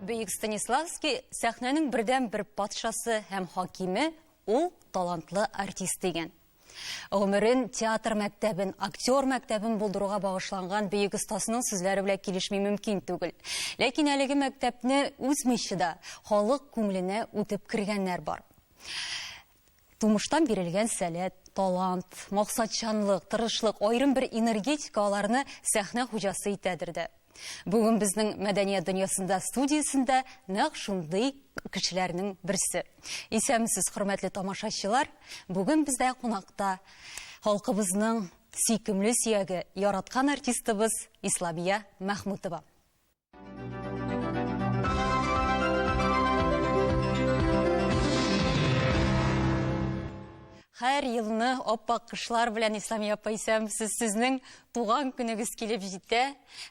Бөек Станиславский сәхнәнең бердән бер патшасы һәм хакиме, ул талантлы артист дигән. Гомерен театр мәктәбен, актер мәктәбен булдыруга багышланган бөек остасының сүзләре белән килешми мөмкин түгел. Ләкин әлеге мәктәпне үзмичә дә халык күңеленә үтеп кергәннәр бар. Тумыштан бирелгән сәләт, талант, максатчанлык, тырышлык, аерым бер энергетика аларны сәхнә хуҗасы итәдер дә. Бүген безнең Мәдәният дөньясында студиясендә нәкъ шундый кешеләрнең берсе. Исәнмесез, хөрмәтле тамашачылар! Бүген бездә кунакта халкыбызның сөйкемле сөяге, яраткан артистыбыз Исламия Мәхмүтова. Хәр елны аппак кышлар белән Ислам апа исәм, сез сезнең туган көнегез килеп җитә.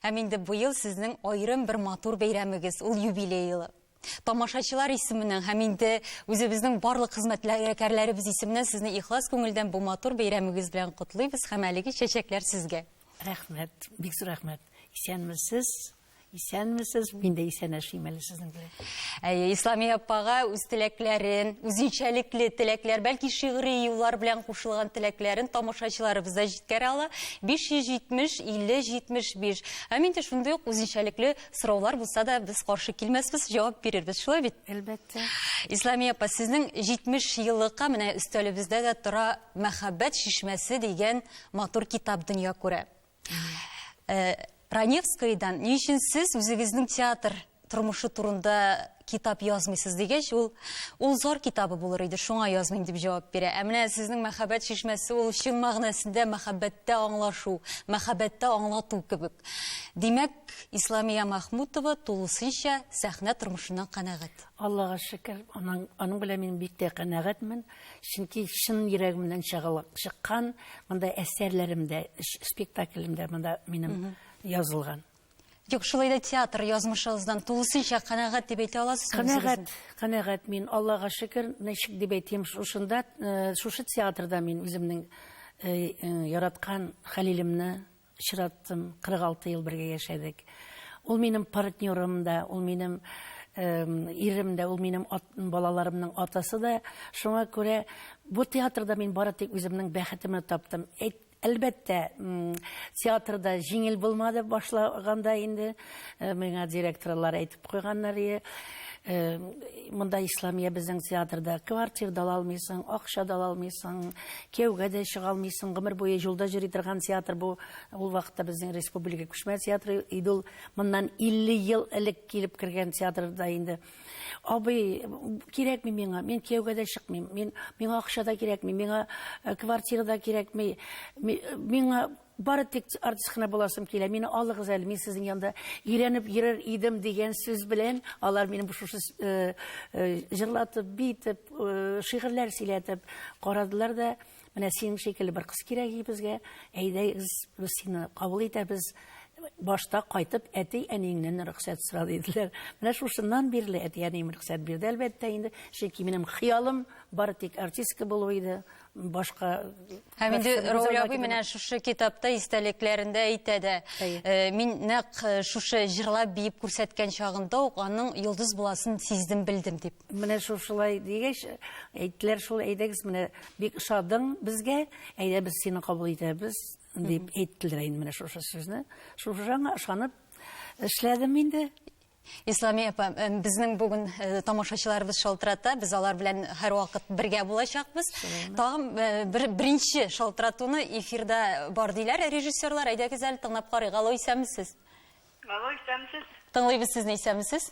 Һәм инде быел сезнең аерым бер матур бәйрәмегез, ул юбилей елы. тамашачылар исеменнән һәм инде үзебезнең барлык хезмәтләребез исеменнән сезне ихлас күңелдән бу матур бәйрәмегез белән котлыйбыз һәм әлеге чәчәкләр сезгә. Рәхмәт, бик зур рәхмәт. Исәнмесез. Исәнмесез, мин дә исән яшим әле сезнең белән. Әйе, Ислами апага үз теләкләрен, үзенчәлекле теләкләр, бәлки шигъри юллар белән кушылган теләкләрен тамашачыларыбыз да җиткерә ала. 570 50 75. Һәм инде шундый ук үзенчәлекле Сораулар булса да, без каршы килмәсбез, җавап бирербез, шулай бит? Әлбәттә. Исламия апа, сезнең 70 еллыкка менә өстәлебездә дә тора Мәхәббәт шишмәсе дигән матур китап дөнья күрә. Э, Раневскойдан ни өчен сез үзегезнең театр тормышы турында китап язмыйсыз дигәч, ул ул зар китабы булыр иде, шуңа язмыйм дип җавап бирә. Ә менә сезнең мәхәббәт чишмәсе ул чын мәгънәсендә мәхәббәттә аңлашу, мәхәббәттә аңлату кебек. Димәк, Исламия Махмутова тулысынча сәхнә тормышыннан канәгать. Аллага шөкер, аның аның белән мин бик тә канәгатьмен, чөнки чын йөрәгемнән чыгылып чыккан монда әсәрләремдә, спектаклемдә монда минем язылган. Юк, шулай да театр язмышыгыздан тулысынча канәгать дип әйтә аласыз. Канәгать, канәгать мин, Аллага шөкер, ничек дип әйтим, шушында, э, шушы театрда мин үземнең э, э, яраткан Хәлилемне очраттым. 46 ел бергә яшәдек. Ул минем партнерым да, ул минем ирем дә, ул минем ат, балаларымның атасы да. Шуңа күрә бу театрда мин бары тик үземнең бәхетемне таптым. Әйт, Әлбәттә, театрда җиңел булмады башлаганда инде. Э, миңа директорлар әйтеп куйганнар, э, монда Исламия безнең театрда квартир да алмыйсың, акча да алмыйсың, кияүгә дә чыга алмыйсың, гомер буе юлда йөри торган театр бу. Ул вакытта безнең республика күчмә театры иде ул. Моннан 50 ел элек килеп кергән театрда инде Абый, кирәкми миңа, мин кияүгә дә чыкмыйм, мин, миңа акча да кирәкми, миңа э, квартира да кирәкми, миңа бары тик артист кына буласым килә, мине алыгыз әле, мин сезнең янда өйрәнеп йөрер идем дигән сүз белән, алар мине шушы э, э, җырлатып, битеп, шигырьләр сөйләтеп карадылар да, Менә синең шикелле бер кыз кирәк и безгә. Әйдәгез, без сине кабул итәбез. Башта кайтып, әти әниеңнән рөхсәт сора диделәр. Менә шушыннан бирле әти әнием рөхсәт бирде, әлбәттә инде. Чөнки минем хыялым бары тик артистка булу иде. Башка Һәм инде Рауль абый менә шушы китапта истәлекләрендә әйтә дә. Э, мин нәкъ э, шушы җырлап биеп күрсәткән чагында ук аның йолдыз буласын сиздем, белдем дип. Менә шушылай дигәч, әйттеләр шул, әйдәгез, менә бик ошадың безгә, әйдә без сине кабул итәбез, дип әйттеләр инде менә шушы сүзне. Шушаңа ышанып эшләдем инде. Исламия апа, э, безнең бүген э, тамашачыларыбыз шалтырата, без алар белән һәрвакыт бергә булачакбыз. Тагын э, бер беренче шалтыратуны эфирда бар диләр режиссерлар. Әйдәгез әле тыңлап карыйк. Алло, исәнмесез? Алло, исәнмесез? Тыңлыйбыз сезне, исәнмесез?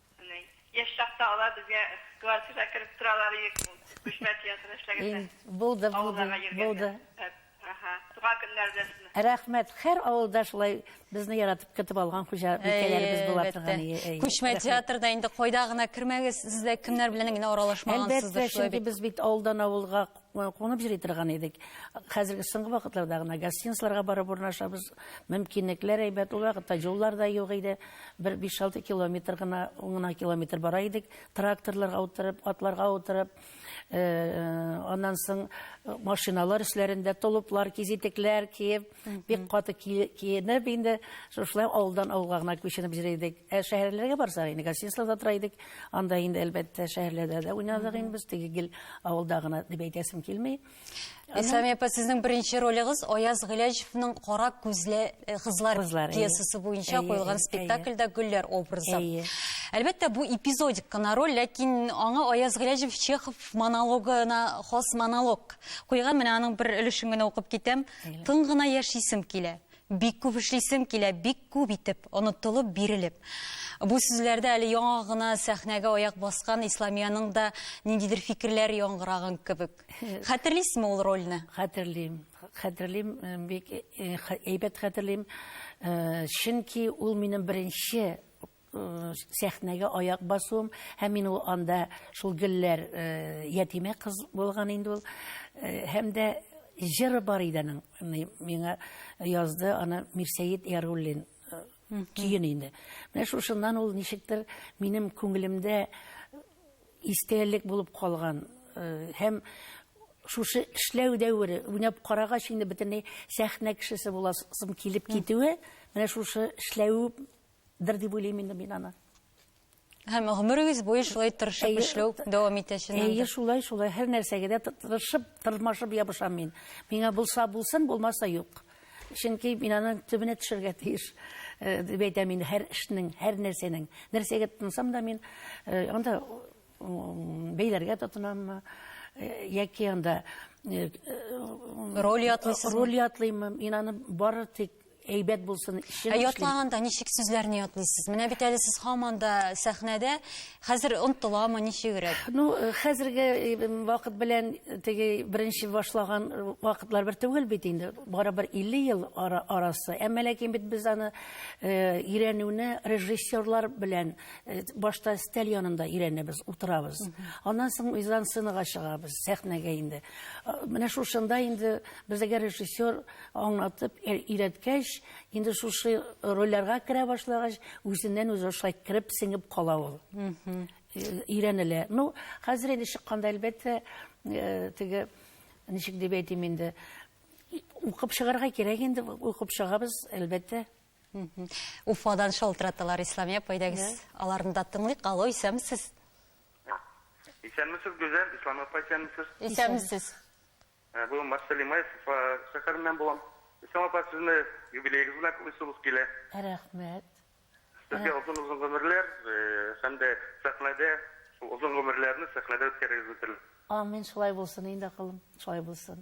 Яшь чакта алар безгә квартирага кереп торалар идек, күчмә театрда эшләгәндә. Булды, булды. Туган көннәр белән сезне. Рәхмәт. Һәр авылда шулай безне яратып көтеп алган хуҗабикәләребез була торган. Күчмә театрда инде кайда гына кермәгез, сез дә кемнәр белән генә аралашмагансыздыр. Әлбәттә, чөнки без бит авылдан авылга Кунып җыри торган идек. Хәзерге соңгы вакытларда гына гостиницаларга барып урнашабыз. Мөмкинлекләр әйбәт. Ул вакытта юллар да юк иде. Бер 5-6 километр гына, ун гына километр бара идек. Тракторларга утырып, атларга утырып, аннан соң машиналар өсләрендә толыплар, кизитекләр киеп, Бик каты киенеп инде, шушылай авылдан авылга гына күченеп йөри идек. Ә шәһәрләргә барсак, инде гостиницаларда тора идек. Анда инде, әлбәттә, шәһәрләрдә дә уйнадык инде без. Теге гел авылда гына дип әйтәсем килми. Исламия апа, сезнең беренче ролегыз Аяз Гыйләҗевның Кара күзле э, кызлар пьесасы буенча куелган спектакльдә Гөлләр образы. Әлбәттә, бу эпизодик кына роль, ләкин аңа Аяз Гыйләҗев Чехов монологына хас монолог куйган. Менә аның бер өлешен генә укып китәм. Тын гына яшисем килә, бик күп эшлисем килә, бик күп итеп, онытылып, бирелеп. Бу сүзләрдә әле яңа гына сәхнәгә аяк баскан Исламиянең дә ниндидер фикерләр яңгыраган кебек. Хәтерлисезме ул рольне? Хәтерлим. Хәтерлим, э, бик э, э, әйбәт хәтерлим. Чөнки ул минем беренче Э, сәхнәгә аяк басуым һәм мин ул анда шул гөлләр э, ятимә кыз булган инде ул э, һәм дә җыры бар иде аның миңа язды аны мирсәет яруллин көен инде менә шушыннан ул ничектер минем күңелемдә истәлек булып калган һәм шушы эшләү дәвере уйнап карагач инде бөтенләй сәхнә кешесе буласым килеп китүе менә шушы эшләве Дыр дип уйлыйм инде мин аны. Һәм гомерегез буе шулай тырышып эшләү дәвам итә чыннан. Әйе, шулай, шулай. Һәр нәрсәгә дә тырышып, тырмашып ябышам мин. Миңа булса булсын, булмаса юк. Чөнки мин аның төбенә төшергә тиеш. Э, дип әйтәм мин һәр эшнең, һәр нәрсәнең. Нәрсәгә тынсам да мин э, анда бәйләргә тотынаммы яки анда роль ятлыйсыз роль ятлыймы мин аны бары тик әйбәт булсын ә ятлаганда ничек сүзләрне ятлыйсыз менә бит әле сез һаман да сәхнәдә хәзер онтыламы ничегрәк ну хәзерге вакыт белән теге беренче башлаган вакытлар бер түгел бит инде барыбер 50 ел арасы әмма ләкин бит без аны өйрәнүне режиссерлар белән Э, башта стәл янында өйрәнәбез утырабыз аннан соң мизансценага чыгабыз сәхнәгә инде э, менә шушында инде безгә режиссер аңлатып э, өйрәткәч инде шушы рольләргә керә башлагач үзеннән үзе шулай кереп сеңеп кала ул өйрәнелә ну хәзер инде чыкканда әлбәттә теге ничек дип әйтим инде укып чыгарга кирәк инде укып чыгабыз әлбәттә Уфадан шалтыраталар, Исламия апа, әйдәгез, аларны да тыңлыйк. Алло, исәнмесез? Исәнмесез, Гүзәл, Исламия апа, исәнмесез? Исәнмесез. Ә, Бу Марсель Имаев Уфа шәһәреннән булам. Исламия апа, сезне юбилеегыз белән кылыйсыбыз килә. Рәхмәт. Сезгә озын-озын гомерләр э, һәм дә сәхнәдә шул озын гомерләрне сәхнәдә үткәрегез бетерелеп. Амин, шулай булсын инде, акылым, шулай булсын.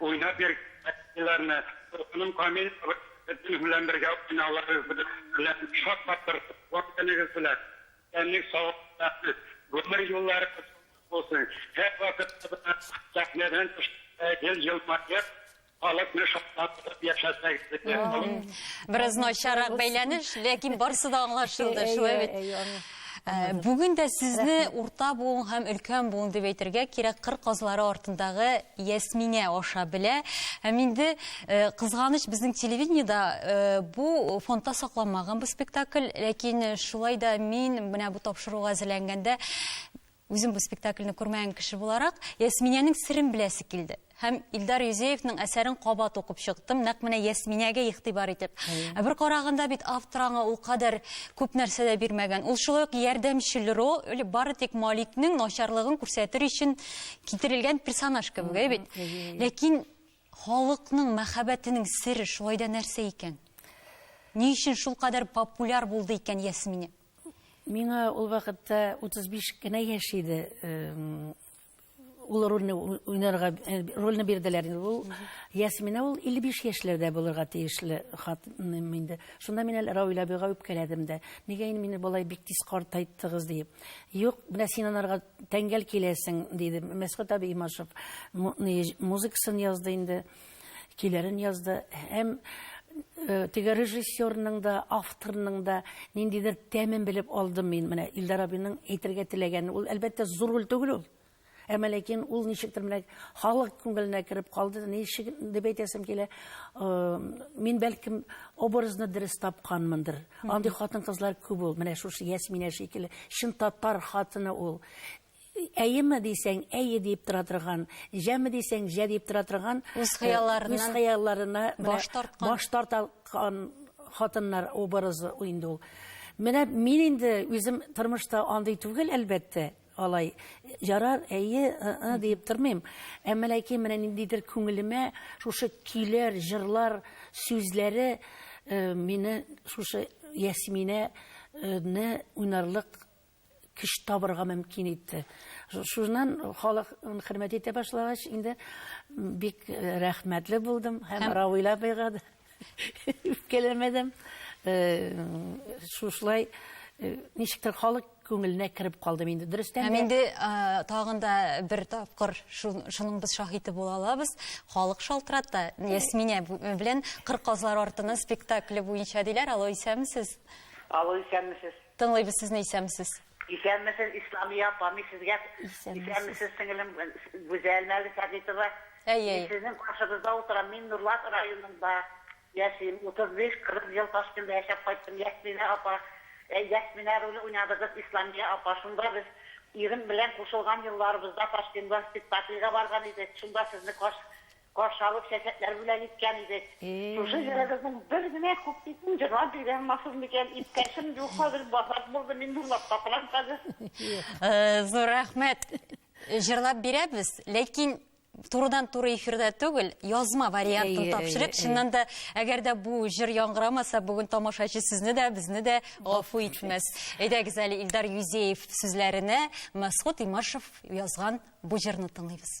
Уйнап йөргән әтиләрне, Дулкыным Камил абый, сезнең белән бергә уйнауларыгыз белән шаккатырдык. Туган көнегез белән! Исәнлек, саулык, гомер юлларыгыз уңыш булсын! Һәрвакытта да сәхнәдән төшкәндә гел елмаеп, халыкны шатландырып яшәсәгез иде. Бераз начаррак бәйләнеш, ләкин барсы да аңлашылды, шулай бит? Ә, бүген дә сезне урта буын һәм өлкән буын дип әйтергә кирәк, кыр казлары артындагы Ясминә аша белә. Һәм инде э, кызганыч безнең телевидениедә э, бу фондта сакланмаган бу спектакль, ләкин шулай да мин менә бу тапшыруга әзерләнгәндә Үзем бу спектакльне күрмәгән кеше буларак, Ясминәнең серен беләсе килде. Һәм Илдар Юзеевның әсәрен кабат укып чыктым, нәкъ менә Ясминәгә игътибар итеп. Ә бер караганда бит автор аңа ул кадәр күп нәрсә дә бирмәгән. Ул шулай ук ярдәмчел роль, бары тик Маликның начарлыгын күрсәтер өчен китерелгән персонаж кебек, әйе бит? Ләкин халыкның мәхәббәтенең сере шулай да нәрсә икән? Ни өчен шулкадәр популяр булды икән Ясминә? Миңа ул вакытта 35 кенә яшь иде. Ул рольне уйнарга э, рольне бирделәр. Ул Ясмина ул 55 яшьләрдә булырга тиешле хатыным инде. Шунда мин әле Рауил абыйга үпкәләдем дә. Нигә инде мине болай бик тиз картайттыгыз диеп. Юк, менә син анарга тәңгәл киләсең диде. Мәсхүт абый Имашев музыкасын язды инде. көйләрен язды һәм теге режиссерның да авторның да ниндидер тәмен белеп алдым мин менә илдар абыйның әйтергә теләгәнен ул әлбәттә зур роль түгел ул әмма ләкин ул ничектер менә халык күңеленә кереп калды ничек дип әйтәсем килә мин бәлкем образны дөрес тапканмындыр андый хатын кызлар күп ул менә шушы ясминә шикелле чын татар хатыны ул Әйеме дисәң, әйе диеп тора торган, җәме дисәң, җә диеп тора торган, үз хыялларына баш тарткан хатыннар образы инде ул. Менә мин инде үзем тормышта андый түгел, әлбәттә, алай. Ярар, әйе, ы-ы диеп тормыйм. Әмма ләкин менә ниндидер күңелемә шушы көйләр, җырлар сүзләре мине шушы Ясминәне уйнарлык кеше табырга мөмкин итте. Шуннан халык хөрмәт итә башлагач, инде бик э, рәхмәтле булдым һәм Равил абыйга да үпкәләмәдем. Э, шушылай э, ничектер халык күңеленә кереп калдым инде дөрестән һәм инде тагын да бер тапкыр шуның без шаһиты була алабыз халык шалтырата ясминә белән кыр казлар артына спектакле буенча диләр алло исәнмесез алло исәнмесез Тыңлыйбыз сезне исәнмесез. Исәнмесез Исламия апа, мин сезгә исәнмесез сеңелем Гүзәл Мәлик Хәдитова. Әйе. Мин сезнең каршыгызда утырам. Мин Нурлат районында яшим. 35-40 ел Ташкентта яшәп кайттым. Ясминә апа, э, Ясминә роле уйнадыгыз Исламия апа. Шунда без ирем белән кушылган елларыбызда Ташкентта спектакльгә барган идек. Шунда сезне карш Каршы алып чәчәкләр бүләк иткән идек. Шушы җырыгызның бер генә куплетын җырлап бирә алмассыз микән? Иптәшем юк хәзер, базар булды, мин урлап табарам хәзер. Зур рәхмәт. Җырлап бирәбез, ләкин турыдан-туры эфирда түгел, язма вариантын тапшырыйк. Чыннан да, әгәр дә бу җыр яңгырамаса, бүген тамашачы сезне дә, безне дә гафу итмәс. Әйдәгез әле Илдар Юзеев сүзләренә Мәсхүт Имашев язган бу җырны тыңлыйбыз.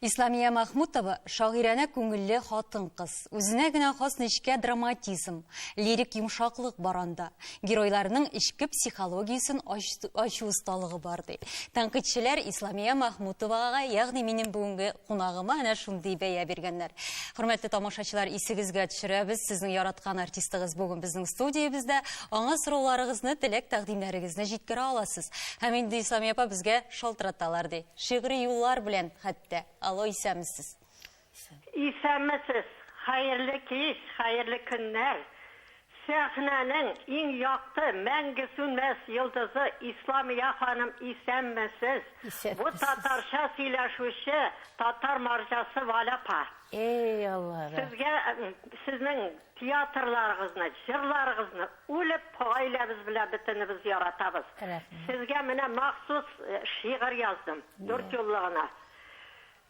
Исламия Махмутова шагыйрәне күңелле хатын-кыз. Үзенә генә хас нечкә драматизм, лирик йомшаклык баранда. Геройларның эчке психологиясен ачу осталыгы бар, ди. Тәнкыйтьчеләр Исламия Мәхмүтовага, ягъни минем бүгенге кунагыма әнә шундый бәя биргәннәр. Хөрмәтле тамашачылар, исегезгә төшерәбез, сезнең яраткан артистыгыз бүген безнең студиябездә. Аңа сорауларыгызны, теләк-тәкъдимнәрегезне җиткерә аласыз. Һәм инде Исламия апа безгә шалтыраталар, ди. Шигъри юллар белән хәтта. Алло, исәнмесез. Исәнмесез! Хәерле кич, хәерле көннәр! Сәхнәнең иң якты, мәңге сүнмәс йолдызы Исламия ханым исәнмесез! Бу татарча сөйләшүче татар марҗасы Валя апа! Эй Алларым! Сезгә, сезнең театрларыгызны, җырларыгызны үлеп гаиләбез белән бөтенебез яратабыз. Сезгә менә махсус шигырь яздым, дүртьюллы гына.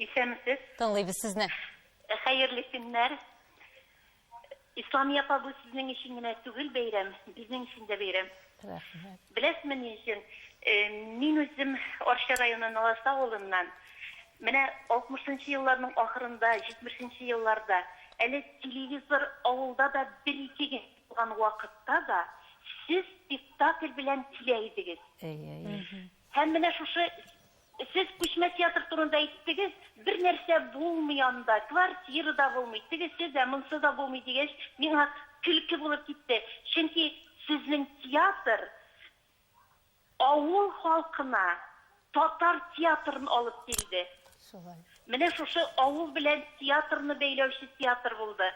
Исәнмесез. Тыңлыйбыз сезне. Хәерле көннәр. Исламия апа, бу сезнең өчен генә түгел бәйрәм, безнең өчен дә бәйрәм. Рәхмәт. Беләсезме ни өчен? Мин үзем Арча районы Наласе авылыннан. Менә 60 нчы елларның ахырында, 70 нче елларда, әле телевизор авылда да бер-ике генә булган вакытта да сез спектакль белән килә идегез. Әйе, әйе. Һәм менә шушы Сез күчмә театр турында әйттегез, бер нәрсә булмый анда, квартира да булмый, тегесе дә, монсы да булмый, дигәч, миңа көлке булып китте. Чөнки сезнең театр авыл халкына татар театрын алып килде. Шулай. Менә шушы авыл белән театрны бәйләүче театр булды.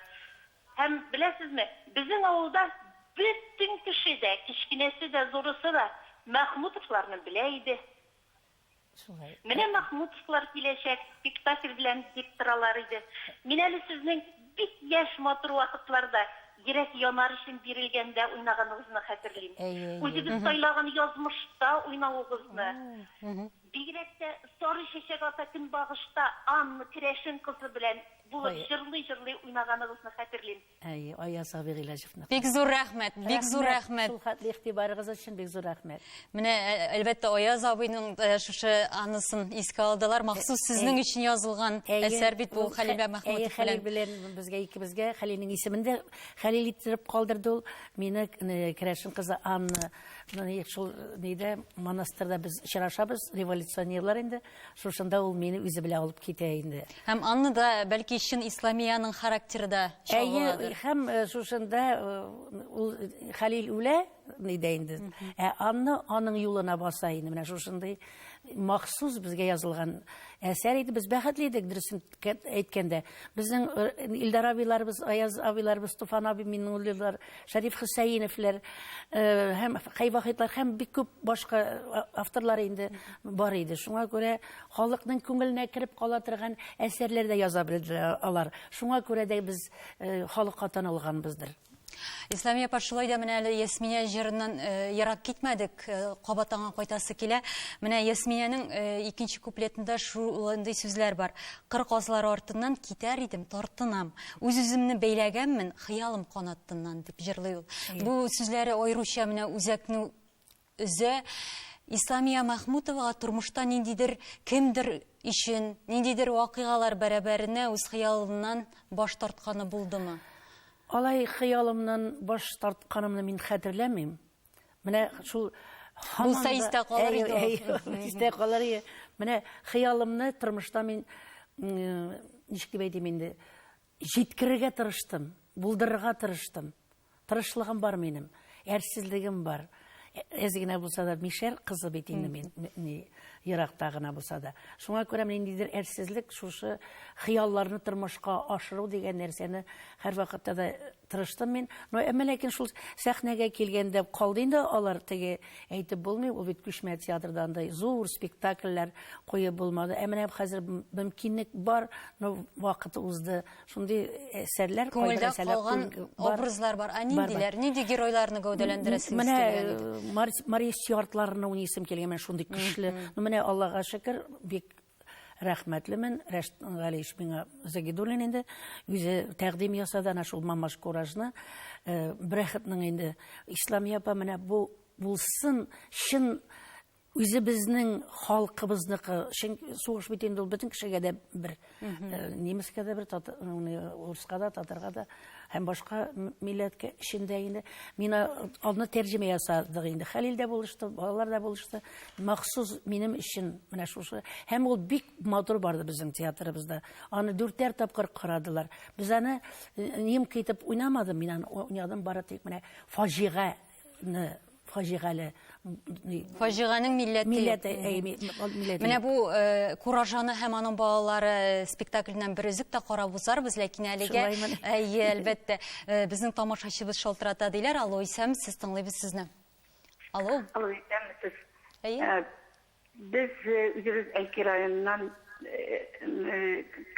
Һәм, беләсезме, безнең авылда бөтен кеше дә, кечкенәсе дә, зурысы да Мәхмүтовларны белә иде. Шулай. Менә Махмутовлар киләчәк спектакль белән дип торалар иде. Мин әле сезнең бик яшь матур вакытларда, Йөрәк янар өчен бирелгәндә уйнаганыгызны хәтерлим. Үзегез сайлаган язмышта уйнавыгызны. Бигрәк тә Сары чәчәк ата көнбагышта Анна керәшен кызы белән булып җырлый-җырлый уйнаганыгызны хәтерлим. Әй, Аяз Сабир Гыйләҗевне. Бик зур рәхмәт, бик зур рәхмәт. Шул хәтле игътибарыгыз өчен бик зур рәхмәт. Менә э, әлбәттә Аяз абыйның э, шушы анысын искә алдылар. Махсус э, сезнең өчен язылган әсәр бит бу Хәлилә Мәхмүтов белән. Хәлил белән безгә икебезгә Хәлилнең исемен дә Хәлил иттереп калдырды ул. Мине Керәшен кызы Анна шул нидә монастырьда без очрашабыз, революционерлар инде. Шушында ул мине үзе белән алып китә инде. Һәм аны да бәлки чын Исламиянең характеры да чагыладыр. Һәм э, шушында э, ул Хәлил үлә нидә инде. Ә Анна аның юлына баса инде. Менә шушындый махсус безгә язылган әсәр иде. Без бәхетле идек, дөресен Кәт әйткәндә, безнең э, Илдар абыйларыбыз, Аяз абыйларыбыз, Туфан абый Миннуллилар, Шәриф Хөсәйиновлар э, һәм Хәйвахитлар һәм бик күп башка э, авторлар инде бар иде. Шуңа күрә халыкның күңеленә кереп кала торган әсәрләр дә яза белделәр алар. Шуңа күрә дә без халыкка танылганбыздыр. Исламия апа, шулай да менә әле Ясминә җырыннан э, ерак китмәдек, э, кабат аңа кайтасы килә. Менә Ясминәнең э, икенче куплетында шулындый сүзләр бар. Кыр казлары артыннан китәр идем, тартынам. Үз үземне бәйләгәнмен, хыялым канаттыннан дип җырлый ул. Бу сүзләре аеруча менә үзәкне Өзә. Исламия Мәхмүтовага тормышта ниндидер кемдер өчен, ниндидер вакыйгалар бәрабәренә үз хыялыннан баш тартканы булдымы? Алай хыялымнан баш тартканымны мин хәтерләмим. Менә шул Булса истә калыр иде. Истә калыр иде. Менә хыялымны тормышта мин ничек дип әйтим инде, җиткерергә тырыштым, булдырырга тырыштым. Тырышлыгым бар минем, әрсезлегем бар. Әз генә булса да мишәр кызы бит инде мин, ни, еракта гына булса да. Шуңа күрә ниндидер әрсезлек, шушы хыялларны тормышка ашыру дигән нәрсәне һәрвакытта да тырыштым мин. Но әмма ләкин шул сәхнәгә килгәндә калды инде алар теге әйтеп булмый, ул бит күчмә театрда андай зур спектакльләр куеп булмады. Ә менә хәзер мөмкинлек бар, но вакыт узды. Шундый әсәрләр, күңелдә калган образлар бар. Ә ниндиләр? Нинди геройларны гәүдәләндерәсез? Менә э, Мария Стюартларны уйныйсым килгән, менә шундый көчле. Ну менә Аллага шөкер, бик рәхмәтлемен. Рәшит Галиевич миңа Загидуллин инде үзе тәкъдим ясады ана шул Мамаш Куражны. Э, Брәхетнең инде Исламия апа менә бу булсын, чын Үзебезнең халкыбызныкы, чөнки сугыш бит инде ул бөтен кешегә дә бер, э, немецка да бер, тата- уны урыска да, татарга да һәм башка м- милләткә эчендә инде. Мин а- аны тәрҗемә ясадык инде. Хәлил дә булышты, балалар да булышты. Махсус минем өчен менә шушы. Һәм ул бик матур барды безнең театрыбызда. Аны дүртәр тапкыр карадылар. Без аны э, немка итеп уйнамадым, мин аны уйнадым бары тик менә фаҗига фаҗигале фаҗиганең милләте милләте э, менә бу э, куражаны һәм аның балалары э, спектакльннән бер өзек тә карап узарбыз ләкин әлегә әйе әлбәттә безнең тамашачыбыз шалтырата диләр алло исәмсез тыңлыйбыз сезне алло алло исәмсез әйе Без үзебез Әлки районыннан,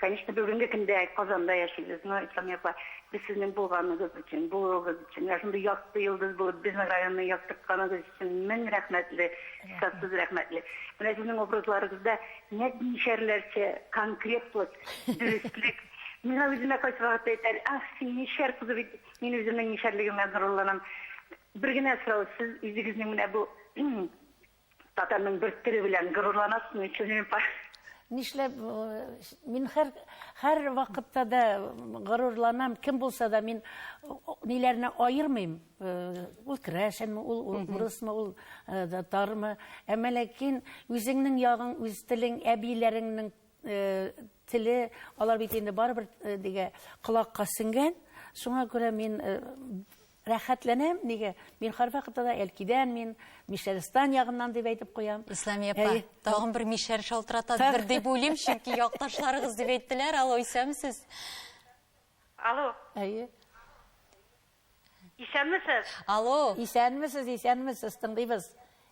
конечно, бүгенге көндә Казанда яшибез, но Ислам апа, без сезнең булганыгыз өчен, булуыгыз өчен, менә шундый якты йолдыз булып безнең районны яктыртканыгыз өчен мең рәхмәтле, хисапсыз рәхмәтле. Менә сезнең образларыгызда нәтмишәрләрчә конкретлык, дөреслек. Миңа үземә кайсы вакытта әйтәр, ах, син мишәр кызы бит, мин үземнең мишәрлегемә горурланам. Бер генә сорау, сез үзегезнең менә бу Татарның бер теле белән горурланасың мин сезнең Нишләп мин һәр һәр вакытта да горурланам, кем булса да мин ниләрне аермыйм. Ул крәшенме, ул урысмы, ул татармы. Әмма ләкин үзеңнең ягың, үз телең, әбиләреңнең теле, алар бит инде барыбер дигә колакка сеңгән. Шуңа күрә мин Рәхәтләнәм, нигә? Мин һәрвакытта да Әлкидән, мин Мишәристан ягыннан дип әйтеп куям. Исламия апа, Әй, тагын бер мишәр шалтыратадыр дип уйлыйм, чөнки якташларыгыз дип әйттеләр. Алло, исәнмесез? Алло. Әйе. Исәнмесез? Алло. Исәнмесез, исәнмесез, тыңлыйбыз.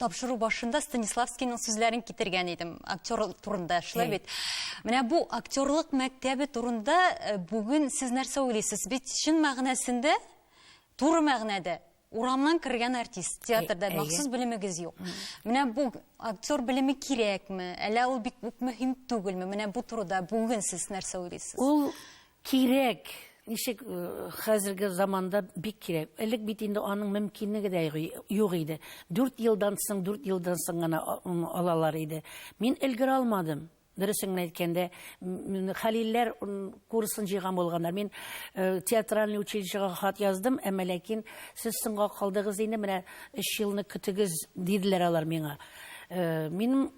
Тапшыру башында Станиславскийның сүзләрен китергән идем. Актер турында шулай бит. Менә бу актерлык мәктәбе турында э, бүген сез нәрсә уйлыйсыз? Бит чын мәгънәсендә, туры мәгънәдә урамнан кергән артист театрда махсус белемегез юк. Менә бу актер белеме кирәкме? Әллә ул бик үк мөһим түгелме? Менә бу турыда бүген сез нәрсә уйлыйсыз? Ул Кирәк! Ничек хәзерге заманда бик кирәк. Элек бит инде аның мөмкинлеге дә юк иде. Дүрт елдан соң, дүрт елдан соң гына алалар иде. Мин өлгерә алмадым. Дөресен генә әйткәндә, Хәлилләр курсын җыйган булганнар. Мин театральный училищега хат яздым, әмма ләкин сез соңга калдыгыз инде, менә өч елны көтегез, диделәр алар миңа. Минем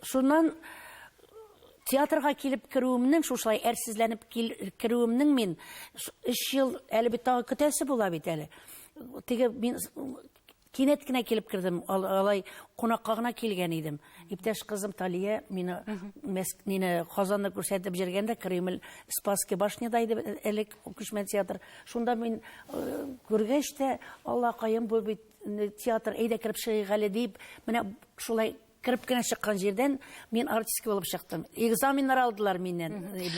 шуннан Театрга килеп керүемнең, шушылай әрсезләнеп керүемнең мин өч ел әле бит тагы көтәсе була бит әле. Теге мин кинәт кенә килеп кердем, алай кунакка гына килгән идем. Иптәш кызым Талия мине мине Казанны күрсәтеп җиргәндә Кремль, Спасский башняда иде элек күчмә театр. Шунда мин күргәч тә, Аллакаем, бу бит театр, әйдә кереп чыгыйк әле дип, менә шулай Кереп кенә чыккан җирдән мин артистка булып чыктым. Экзаменнар алдылар миннән.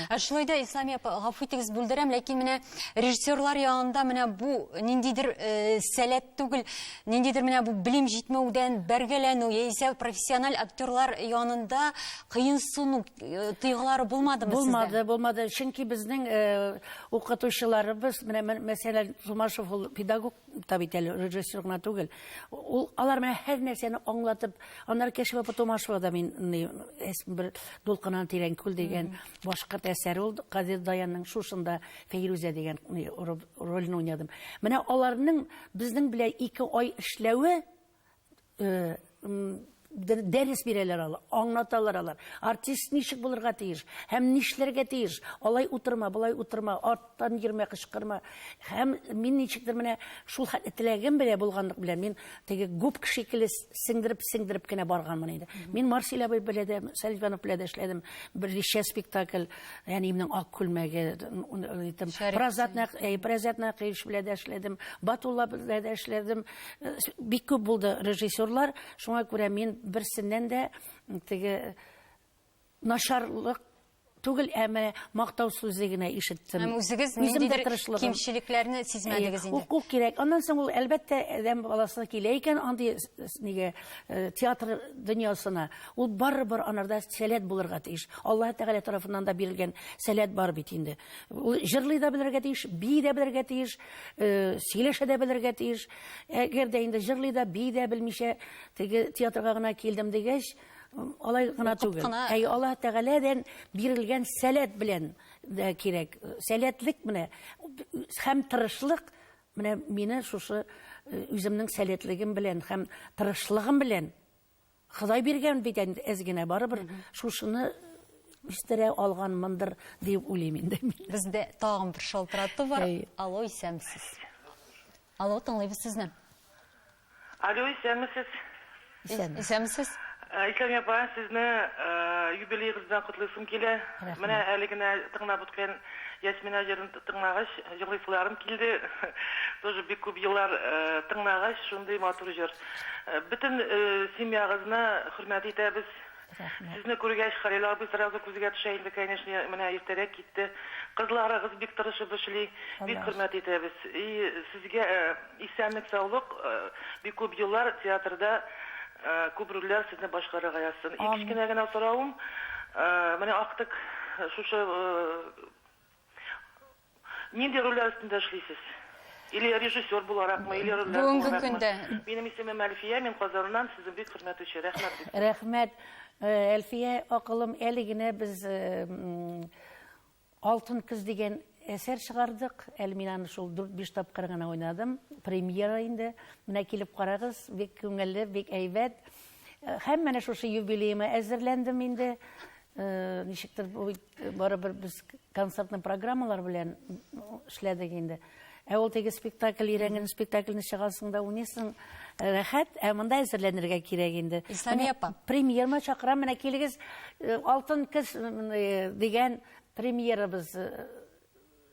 Ә шулай да Ислами апа, гафу итегез, бүлдерәм, ләкин менә режиссерлар янында менә бу ниндидер э, сәләт түгел, ниндидер менә бу белем җитмәүдән бәргәләнү яисә профессиональ актерлар янында кыенсыну э, тойгылары булмадымы сездә? Булмады, булмады. Чөнки безнең э, укытучыларыбыз, менә мәсәлән, Тумашев ул педагог та бит әле режиссер гына түгел. Ул алар менә һәр нәрсәне аңлатып, аннары Кәшиф апа Томашева да мин бер дулкыннан тирән күл дигән башкорт әсәре ул Кадир Даянның шушында Фәйрүзә дигән рольне уйнадым. Менә аларның безнең белән ике ай эшләве дәрес бирәләр алар, аңлаталар алар. Артист ничек булырга тиеш һәм нишләргә тиеш? Алай утырма, болай утырма, арттан йөрмә, кычкырма. Һәм мин ничектер менә шул хәтле теләгем белән булганлык белән мин теге губка шикелле сеңдереп-сеңдереп кенә барганмын инде. Мин Марсель абый белән дә, Сәлим Иванов белән дә эшләдем. Берничә спектакль, әниемнең ак күлмәге, итем, Разат Нәкыев, Разат Нәкыевич белән дә эшләдем, Батулла белән дә эшләдем. Бик күп булды режиссерлар, шуңа күрә мин берсеннән дә теге начарлык түгел, ә менә мактау сүзе генә ишеттем. Һәм үзегез ниндидер кимчелекләрне сизмәдегез инде. Уку кирәк. Аннан соң ул әлбәттә адәм баласы килә икән андый нигә э, театр дөньясына. Ул барыбер анарда сәләт булырга тиеш. Алла Тәгалә тарафыннан да бирелгән сәләт бар бит инде. Ул җырлый да белергә тиеш, бии дә белергә тиеш, э, сөйләшә дә белергә тиеш. Әгәр дә инде җырлый да, бии дә белмичә, теге театрга гына килдем дигәч, алай гына түгел. Әй Аллаһ Тәгаләдән бирелгән сәләт белән дә кирәк. Сәләтлек менә һәм тырышлык менә мине шушы э, үземнең сәләтлегем белән һәм тырышлыгым белән Ходай биргән бит инде әз генә, барыбер шушыны үстерә алганмындыр дип уйлыйм инде. Бездә тагын бер шалтырату бар. Алло, исәнмесез. Алло, тыңлыйбыз сезне. Алло, исәнмесез. Исәнмесез. Э, Ислам апа, сезне э, юбилейгыз белән котлыйсым килә. Менә әле генә тыңлап үткән Ясмина җырын тыңлагач, җырлыйсыларым килде. Тоже бик күп еллар э, тыңлагач, шундый матур җыр. Бөтен семьягызны хөрмәт итәбез. Рәхмәт. Сезне күргәч Хәлил абый сразу күзгә төшә инде, конечно, менә иртәрәк китте. Кызларыгыз бик тырышып эшли. Бик хөрмәт итәбез. И сезгә исәнлек саулык, бик күп еллар театрда күп рольләр сезне башкарырга язсын. И кечкенә генә соравым, менә актык шушы Нинди рольләр өстендә эшлисез? Или режиссер буларакмы, или рольләр Бүгенге буларакмы? көндә. Минем исемем Әлфия, мин Казаннан, сезнең бик хөрмәтлүче. Рәхмәт бик зур. Рәхмәт, Әлфия акылым, әле генә без Алтын көз дигән әсәр чыгардык, әле мин аны шул дүрт-биш тапкыр гына уйнадым, премьера инде. Менә килеп карагыз, бик күңелле, бик әйбәт. Һәм менә шушы юбилеема әзерләндем инде. Э, ничектер барыбер без концертный программалар белән эшләдек инде ә ул теге спектакль өйрәнгән спектакльне чыгасың да уйныйсың э, рәхәт ә монда әзерләнергә кирәк инде исламия апа премьерма чакырам менә килегез э, алтын көз дигән премьерабыз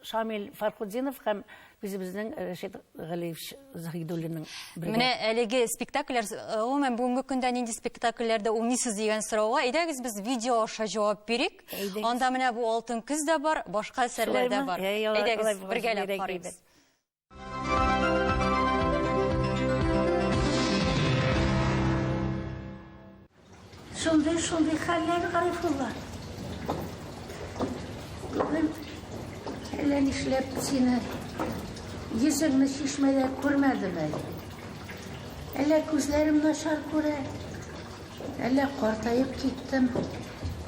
Шамил Фархутдинов һәм үзебезнең Рәшит Галиевич Заһидуллинның бергә. Менә әлеге спектакльләр, э, гомумән бүгенге көндә нинди спектакльләрдә уйныйсыз дигән сорауга, әйдәгез без видео аша җавап бирик. Анда менә бу Алтын көз дә бар, башка әсәрләр дә бар. Әйдәгез бергәләп карыйбыз. Шундый, шундый хәлләр, Гарифулла. Бүген әллә нишләп сине йөзеңне чишмәдә күрмәдем әле. Әллә күзләрем начар күрә, Әллә картаеп киттем?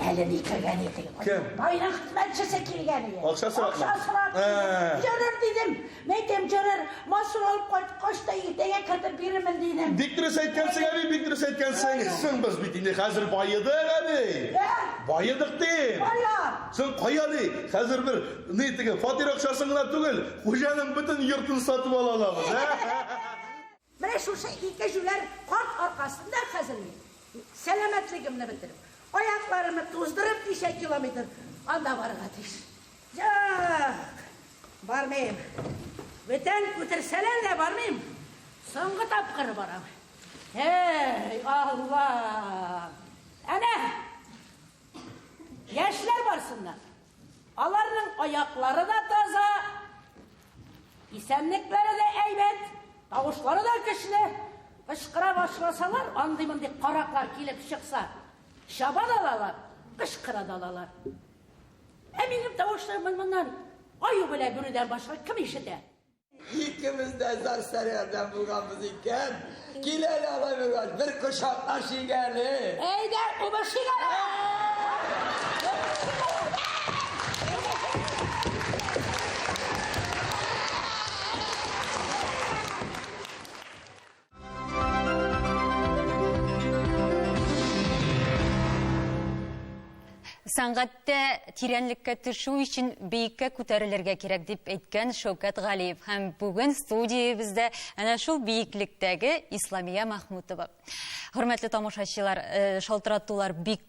Әле ни кергән идең? Кем? Байлык хезмәтчесе килгән иде. Акча сорап. Акча сорап. Җөрер дидем. Мәйтәм җөрер. Масур алып кайткач та иртәгә кертеп бирермен дидем. Бик дөрес әйткәнсең, әби, бик дөрес әйткәнсең. Соң без бит инде хәзер баедык, әби. Баедык дим. Кая? Соң кая ди? Хәзер бер ни теге фатир акчасын гына түгел, хуҗаның бөтен йортын сатып ала алабыз. Менә шушы ике җүләр карт аркасында хәзер мин, сәламәтлегемне бетереп, аякларымны туздырып, ничә километр анда барырга тиеш. Юк, бармыйм. Бүтән күтерсәләр дә бармыйм. Соңгы тапкыр барам. Эй, Алла! Әнә! Яшьләр барсыннар. Аларның аяклары да таза, исәнлекләре дә әйбәт, тавышлары да көчле. Кычкыра башласалар, андый-мондый караклар килеп чыкса, чаба да алалар, кычкыра да алалар. Ә минем тавышларымны моннан аю белән бүрүдән башка кем ишетә? Икебез дә зар сәргәрдән булганбыз икән. Кил әле алай булгач, бер кочаклашыйк әле. Әйдә, кубышыйк әле. Сәнгатьтә тирәнлеккә төшү өчен биеккә күтәрелергә кирәк дип әйткән Шәүкәт Галиев һәм бүген студиябездә әнә шул биеклектәге Исламия Махмутова. Хөрмәтле тамашачылар, э, шалтыратулар бик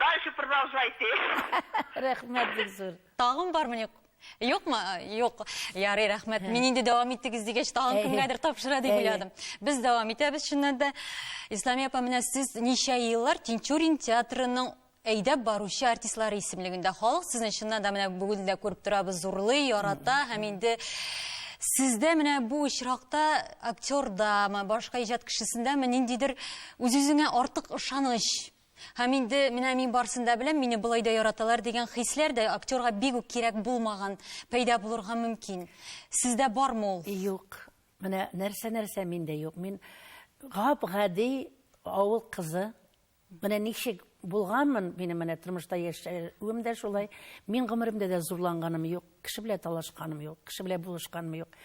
Дальше продолжайте. Рәхмәт бик зур. Тагын бармы юк? Юкмы? Юк. Ярый, рәхмәт. Мин инде дәвам иттегез дигәч, тагын кемгәдер тапшыра дип уйладым. Без дәвам итәбез чыннан да. Исламия апа, менә сез ничә еллар Тинчурин театрының әйдәп баручы артистлары исемлегендә. Халык сезне чыннан да менә бүген дә күреп торабыз, зурлый, ярата һәм инде Сездә менә бу очракта актердамы, башка иҗат кешесендәме ниндидер үз-үзеңә артык ышаныч Һәм инде, менә мин барсын да беләм, мине болай да яраталар дигән хисләр дә актерга бик үк кирәк булмаган, пәйда булырга мөмкин. Сездә бармы ул? Юк. Менә нәрсә-нәрсә миндә юк. Мин гап-гади авыл кызы. Менә ничек булганмын, минем менә тормышта яшәвем дә шулай. Мин гомеремдә дә зурланганым юк, кеше белән талашканым юк, кеше белән булышканым юк.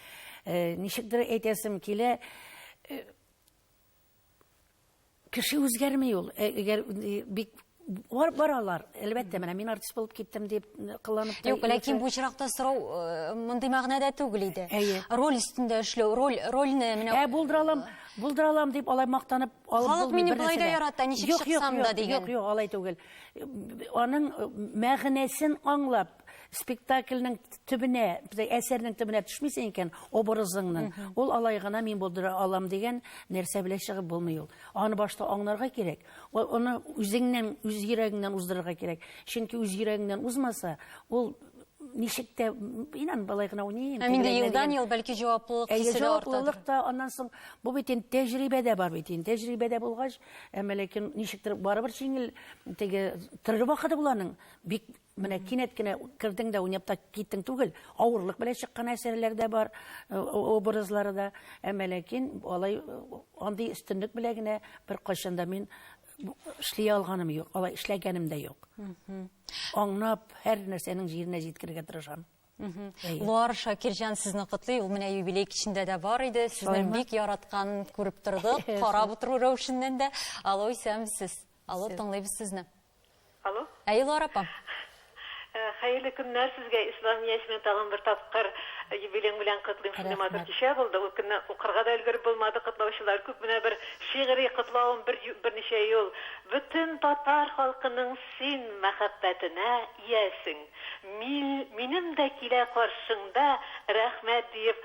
Э, ничектер әйтәсем килә, э, Кеше үзгәрми ул. Э, әгәр э, бик бар баралар әлбәттә менә мин артист булып киттем дип э, кыланып юк ләкин бу очракта сорау э, мондый мәгънәдә түгел иде әйе роль өстендә эшләү роль рольне менә ә булдыра алам булдыра алам дип алай мактанып алып халык мине болай да ярата ничек чыксам да дигән юк юк алай түгел аның э, мәгънәсен аңлап спектакльнең төбенә, әсәрнең төбенә төшмисең икән, образыңның, ул алай гына мин булдыра алам дигән нәрсә белән чыгып булмый ул. Аны башта аңларга кирәк, аны үзеңнән, үз йөрәгеңнән уздырырга кирәк. Чөнки үз йөрәгеңнән узмаса, ул ничек тә инан былай гына уйныйм. Ә инде елдан ел бәлки җаваплылык хисе дә артадыр. Җаваплылык та аннан соң бу бит инде тәҗрибәдә бар бит инде. Тәҗрибәдә булгач, әмма ләкин ничектер барыбер җиңел теге төрле вакыты буланың. Бик Менә кинәт кенә кердең дә уйнап та киттең түгел. Авырлык белән чыккан әсәрләр дә бар, э, образлары да. Әмма ләкин алай э, андый өстенлек белән генә беркайчан да мин эшли алганым юк, алай эшләгәнем дә юк. Аңнап, һәр нәрсәнең җиренә җиткергә тырышам. Луар Шакирҗан сезне котлый. Ул менә юбилей кичендә дә бар иде. Сезне бик яраткан күреп тордык. Карап утыру рәвешеннән дә. Алло, исәнмесез. Алло, тыңлыйбыз сезне. Алло. Ә Илвар апа. Хәерле көннәр сезгә, Ислам Яшьмин, тагын бер тапкыр юбилең белән котлыйм. Шундый матур кичә булды, ул көнне укырга да өлгереп булмады, котлаучылар күп, менә бер шигъри котлавым бер берничә юл. Бөтен татар халкының син мәхәббәтенә иясең. Мин, минем дә килә каршыңда, рәхмәт диеп,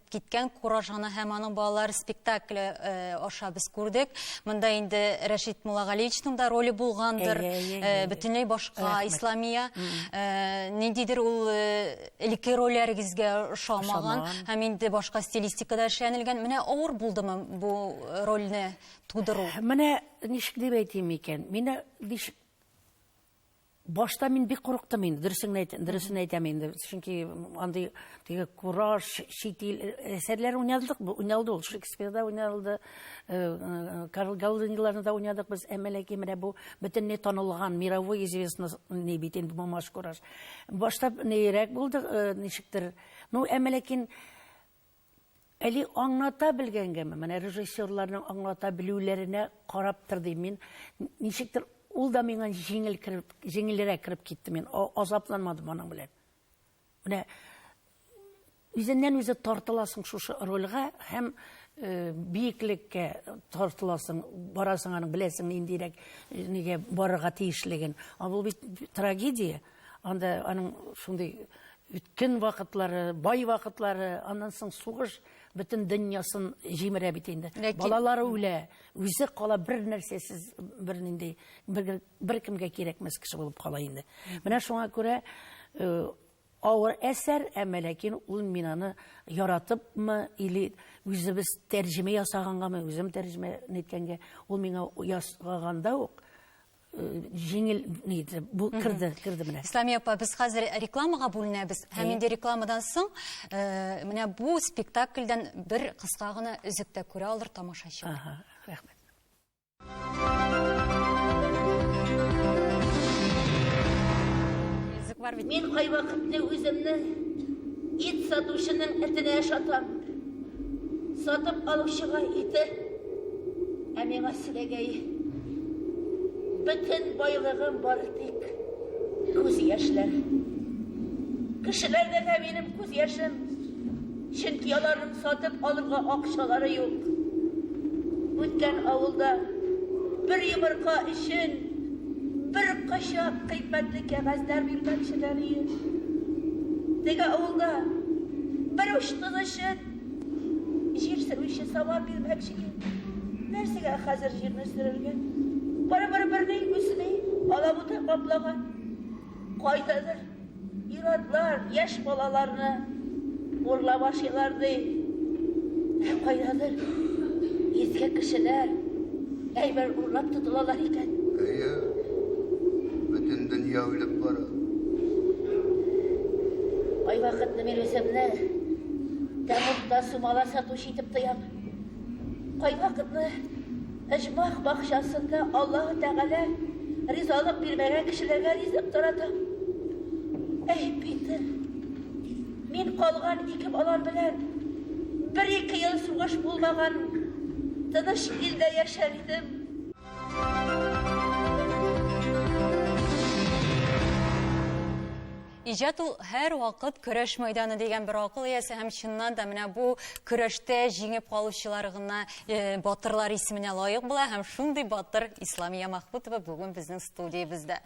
Киткән кураж ана һәм аның балалары спектакле э, аша без күрдек. Монда инде Рәшит Муллагалиевичның да роле булгандыр. Әйе, әйе, э, әйе. Бөтенләй башка Рәхмәт. Исламия. Э, Ниндидер ул э, элекке рольләрегезгә ошамаган Ошамаган. һәм инде башка стилистикада эшләнелгән. Менә авыр булдымы бу э, рольне тудыру? Менә ничек дип әйтим икән? Менә ничек Башта мин бик курыктым инде, дөресен әйтәм, дөресен әйтәм инде. Чөнки андый теге кураж, чит ил әсәрләр уйнадык, уйналды ул Шекспирда уйналды, э, э, Карл Галдиниларны да уйнадык без, әмма ләкин менә бу бөтенләй танылган, мировой известный не бит инде бу маш кураж. Башта нейрәк булды, э, ничектер. Ну, әмма ләкин Әли аңлата белгәнгәме? Менә режиссерларның аңлата белүләренә караптыр дим мин. Ничектер ул да миңа җиңел кереп, җиңелрәк кереп китте мин. Азапланмадым аның белән. Менә үзеннән үзе тартыласың шушы рольгә һәм э, биеклеккә тартыласың, барасың аның беләсең ниндирәк э, нигә барырга тиешлеген. А бу бит трагедия. Анда аның шундый Үткен вакытлары, бай вакытлары, аннан соң сугыш бөтен дөньясын җимерә бит инде. Ләкин... Балалары үлә, үзе кала бер нәрсәсез, бер нинди, бер, бер кемгә кирәкмәс кеше булып кала инде. Менә шуңа күрә э, авыр әсәр, әмма ләкин ул мин аны яратыпмы или үзебез тәрҗемә ясагангамы, үзем тәрҗемә иткәнгә, ул миңа ясаганда ук җиңел нидер бу керде керде менә исламия апа без хәзер рекламага бүленәбез һәм инде рекламадан соң э, менә бу спектакльдән бер кыска гына өзек тә күрә алыр тамашачы ага рәхмәт бар бит мин кайвакытны үземне ит сатучының этенә ошатам Сатып алучыга ите, ә миңа селәгәй. Бөтен байлыгым бары тик күз яшьләр. Кешеләрдә дә минем күз яшем, чөнки аларның сатып алырга акчалары юк. Үткән авылда бер йомырка өчен бер кашак кыйммәтле кәгазьләр бирмәкчеләр иде. Теге авылда бер уч Җир сөрүче сама бирмәкче инде. Нәрсәгә хәзер җирне сөрергә? Барыбер берни үсми, алабута каплаган. Кайдадыр ир-атлар яшь балаларны урлап ашыйлар ди. Ә кайдадыр иске кешеләр Әйбер урлап тотылалар икән. Әйе. Бөтен дөнья үлеп бара. Ай вакытны мин үземне тәмугта сумала сатучы итеп тоям. Кай вакытны Әҗмах бакчасында Аллаһ Тәгалә ризалык бирмәгән кешеләргә ризык таратам. Әй, Питер, Мин калган ике балам белән бер-ике ел сугыш булмаган тыныч илдә яшәр идем. Иҗат ул һәр вакыт көрәш мәйданы дигән бер акыл иясе һәм чыннан да менә бу көрәштә җиңеп калучылар гына э, батырлар исеменә лаек була һәм шундый батыр Исламия Махмутова бүген безнең студиябездә.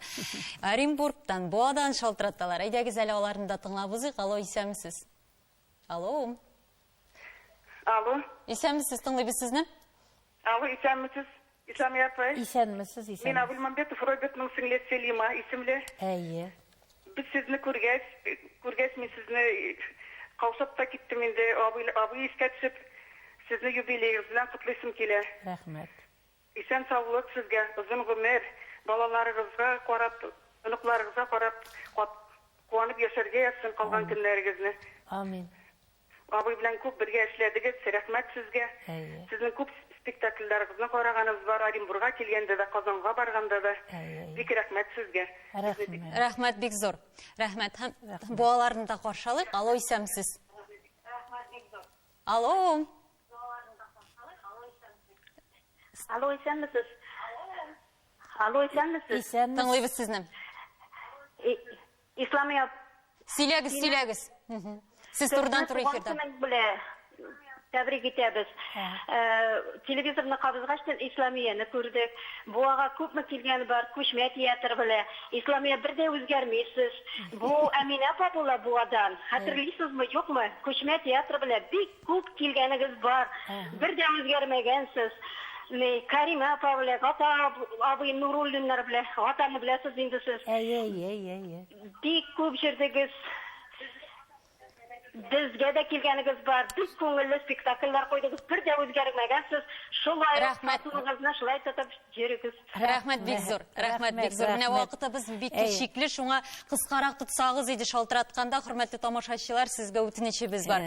Оренбургтан, Буадан шалтыраталар. Әйдәгез әле аларны да тыңлап узыйк. Алло, исәнмесез. Алло. Алло. Исәнмесез, тыңлыйбыз сезне. Алло, исәнмесез. Исәмия апа. Исәнмесез, исәнмесез. Мин Абулмамбетов Робертның сеңлесе Селима исемле. Әйе. Без сезне күргәч, күргәч мин сезне каушап та киттем инде. Абый, абый искә төшеп, сезне юбилеегыз белән котлыйсым килә. Рәхмәт. Исән саулык сезгә, озын гомер, балаларыгызга карап, оныкларыгызга карап кат куанып яшәргә язсын калган көннәрегезне. Амин. Абый белән күп бергә эшләдегез, рәхмәт сезгә. Әйе. Сезнең күп спектакльләрегезне караганыбыз бар, Оренбурга килгәндә дә, Казанга барганда да. Әйе. Бик рәхмәт сезгә. Рәхмәт. Рәхмәт бик зур. Рәхмәт. Һәм балаларны да каршы алыйк. Алло, исәмсез. Алло. Алло, исәнмесез. Алло, исәнмесез. Исәнмесез. Тыңлыйбыз сезне. Исламия. Сөйләгез, сөйләгез. Сез турыдан туры эфирда. Тәбрик итәбез. Телевизорны кабызгач, Исламияне күрдек. Буага күпме килгән бар, күчмә театр белә. Исламия бер дә үзгәрмисез. Бу Әминә апа була Буадан. Хәтерлисезме, юкмы? Күчмә театр белә бик Күп килгәнегез бар, бер дә үзгәрмәгәнсез. Кәримә апа белән Гата абый Нуруллиннар белән Гатаны беләсез инде сез. Әйе, әйе, әйе, әйе. Бик күп җырдыгыз. Безгә дә килгәнегез бар, бик күңелле спектакльләр куйдыгыз, бер дә үзгәрмәгәнсез, шулай ук сатуыгызны шулай тотып йөрегез. Рәхмәт бик зур. Рәхмәт бик зур. Менә вакытыбыз бик чикле, шуңа кыскарак тотсагыз иде шалтыратканда, хөрмәтле тамашачылар, сезгә үтенечебез бар.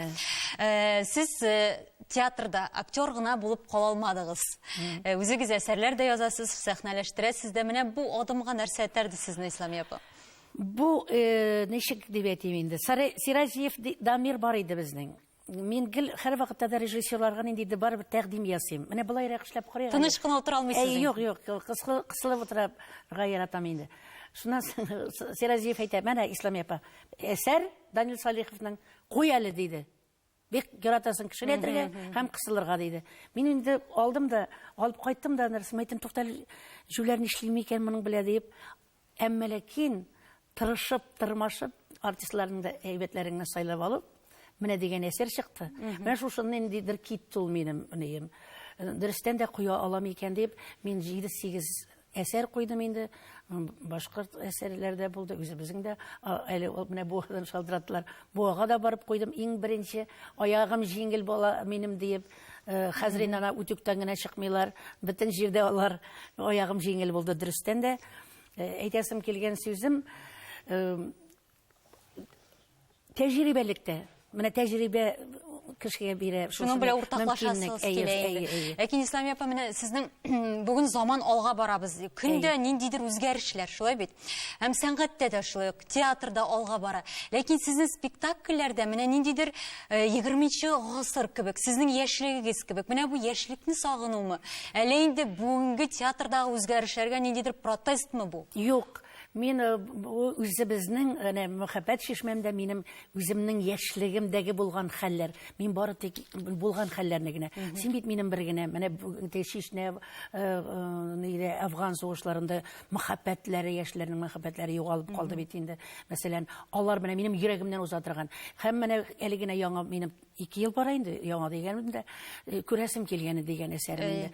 Э, сез э, театрда актер гына булып кала алмадыгыз. Э, үзегез әсәрләр дә язасыз, сәхнәләштерәсез дә. Менә бу адымга нәрсә этәрде сезне, Исламия апа? Бу ничек дип әйтим инде? Сиразиев Дамир бар иде безнең. Мин гел һәрвакытта да режиссерларга ниндидер барыбер тәкъдим ясыйм. Менә болайрак эшләп карыйк. әле. Тыныч кына утыра алмыйсыз Әй, инде. юк, юк, юк, кысылы- кысылып утырырга яратам инде. Шуннан соң С- Сиразиев әйтә, менә, Исламия апа, әсәр Данил Салиховның, куй әле, диде. Бик яратасың кешеләтергә һәм кысылырга, диде. Мин инде алдым да, алып кайттым да, нәрсә, әйттем, тукта әле, җүләр нишлими икән моның белә, диеп. Әмма ләкин тырышып, тырмашып, артистларның да әйбәтләреңне сайлап алып, менә дигән әсәр чыкты. Менә шушында ниндидер китте ул минем нием. Дөрестән дә куя алам икән дип, мин 7-8 әсәр куйдым инде. М, Башкорт әсәрләре дә булды, үзебезнең дә. А, Әле ул менә Буадан шалтыраттылар. Буага да барып куйдым. Иң беренче аягым җиңел бала минем диеп, Э, хәзер инде ана үтүктән генә чыкмыйлар бөтен җирдә алар аягым җиңел булды дөрестән дә э, әйтәсем килгән сүзем э, тәҗрибәлектә менә тәҗрибә кешегә бирә шуның белән уртаклашасыз ләкин исламия апа менә сезнең бүген заман алга барабыз көндә ниндидер үзгәрешләр шулай бит Һәм сәнгатьтә дә шулай ук, театрда алга бара. Ләкин сезнең спектакльләрдә менә ниндидер 20-нче э, гасыр кебек, сезнең яшьлегегез кебек, менә бу яшьлекне сагынуымы? Әллә инде бүгенге театрдагы үзгәрешләргә ниндидер протестмы бу? Юк, Мин э, үзебезнең әнә мәхәббәт чишмәмдә минем үземнең яшьлегемдәге булган хәлләр. Мин бары тик булган хәлләрне генә. Син бит минем бер генә. Менә чишнә э, э, нидә Афган сугышларында мәхәббәтләре, яшьләрнең мәхәббәтләре югалып калды бит инде. Мәсәлән, алар менә минем йөрәгемнән уза торган. Һәм менә әле генә яңа минем 2 ел бара инде, яңа дигәнем дә, э, күрәсем килгәне дигән әсәрем инде.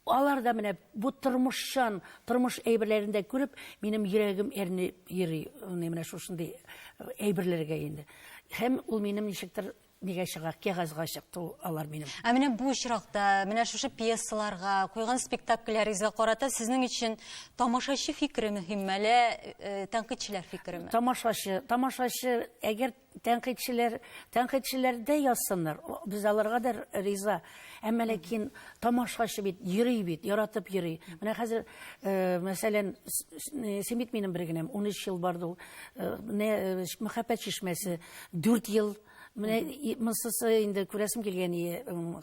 Алар да менә бу тормышчан, тормыш әйберләрен дә күреп, минем йөрәгем әрнеп йөри, менә шушындый э, әйберләргә инде. Һәм ул минем ничектер Нигә чыга? Кәгазьгә чыкты ул алар минем. Ә менә бу очракта, менә шушы пьесаларга, куйган спектакльләрегезгә карата сезнең өчен тамашачы фикере мөһимме, әллә э, тәнкыйтьчеләр фикереме? Тамашачы, тамашачы, әгәр тәнкыйтьчеләр, тәнкыйтьчеләр дә язсыннар, о, без аларга да риза. Әмма ләкин тамашачы бит, йөри бит, яратып йөри. Менә хәзер, э, мәсәлән, с- с- э, Симит минем бер генәм, 13 ел барды ул. Э, не, э, Мәхәббәт чишмәсе, дүрт ел менә монсысы инде күрәсем килгән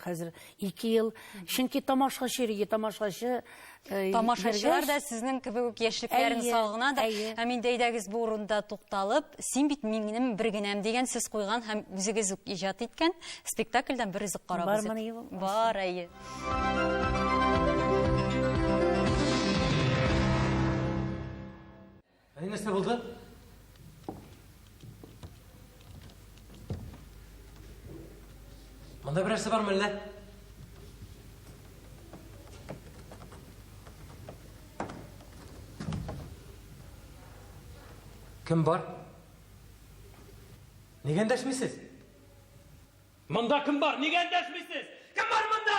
хәзер ике ел чөнки тамашачы йөргән тамашачы э, тамашачылар да сезнең кебек үк яшьлекләрен сагынадыр һәм инде әйдәгез бу урында тукталып син бит минем бер генәм дигән сүз куйган һәм үзегез үк иҗат иткән спектакльдән бер өзек карагыз бар әйе Әни, нәрсә булды? Монда берәрсе бармы әллә? Кем бар? Нигә эндәшмисез? Монда кем бар? Нигә эндәшмисез? Кем бар монда?